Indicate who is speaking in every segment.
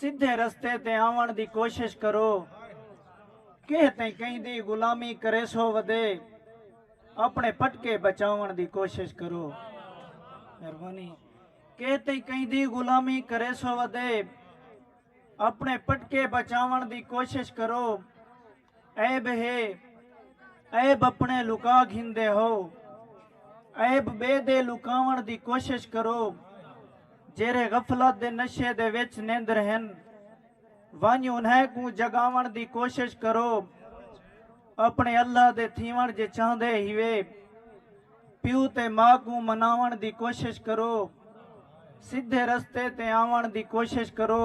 Speaker 1: سدھے رستے تے آوݨ دی کوشش کرو کہیں تیں کہیں دی غلامی کریسو ودے اپنے پٹکے بچاوݨ دی کوشش کرو مہربانی کہیں تیں کہیں دی غلامی کریسو ودے اپنے پٹکے بچاوݨ دی کوشش کرو عیب ہے عیب اپݨے لکا گھندے ہو عیب ٻئے دے لکاوݨ دی کوشش کرو جیرھے غفلت دے نشے دے وچ نیندر ہن ونڄ انھیں کوں جڳاوݨ دی کوشش کرو اپݨے اللہ دے تھیوݨ جے چاہندے ہیوے پیو تے ماء کوں مناوݨ دی کوشش کرو سدھے رستے تے آوݨ دی کوشش کرو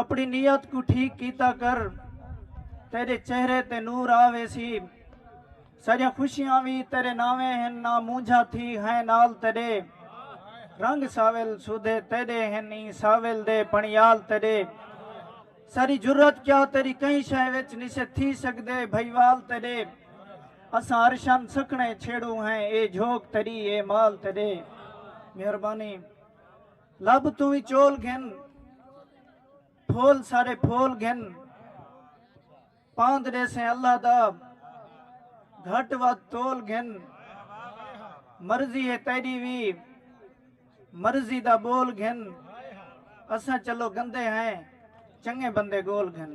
Speaker 1: اپݨی نیت کوں ٹھیک کیتا کر تیݙے چہرے تے نور آ ویسی ساݙیاں خوشیاں وی تیݙے ناویں ہن نہ مونجھا تھی ہیں نال تیݙے رنگ ساول سودھے تیݙے ہن ایں ساول دے پݨیال تیݙے ساری جرت کیا تیݙی کہیں شے وچ نسے تھی سڳدے بھئیوال تیݙے اساں عرشاں سکھݨے چھیڑوں ہیں اے جھوک تیݙی اے مال تیݙے مہربانی لب توں وی چول گھن پھول سارے پھول گھن پاند ڈیسیں اللہ دا گھٹ ود تول گھن مرضی ہے تیری وی مرضی دا بول گھن اساں چلو گندے ہیں چنگے بندے گول گھن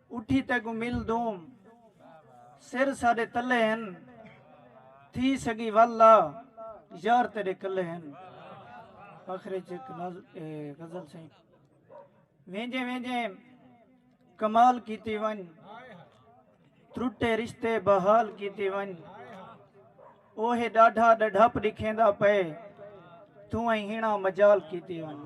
Speaker 1: اٹھی تیکوں مل دوں سر ساڈے تلے ہن تھی سگی ول لا یار تیڈے کلے ہن آخر اچ ایک ناز اے غزل سائیں وینجے وینجے کمال کیتی ونج ترٹے رشتے بحال کیتی ونج اوہے ڈاڈھا ڈڈھپ ڈکھیندا پئے توں ایں ہینا مجال کیتی ونج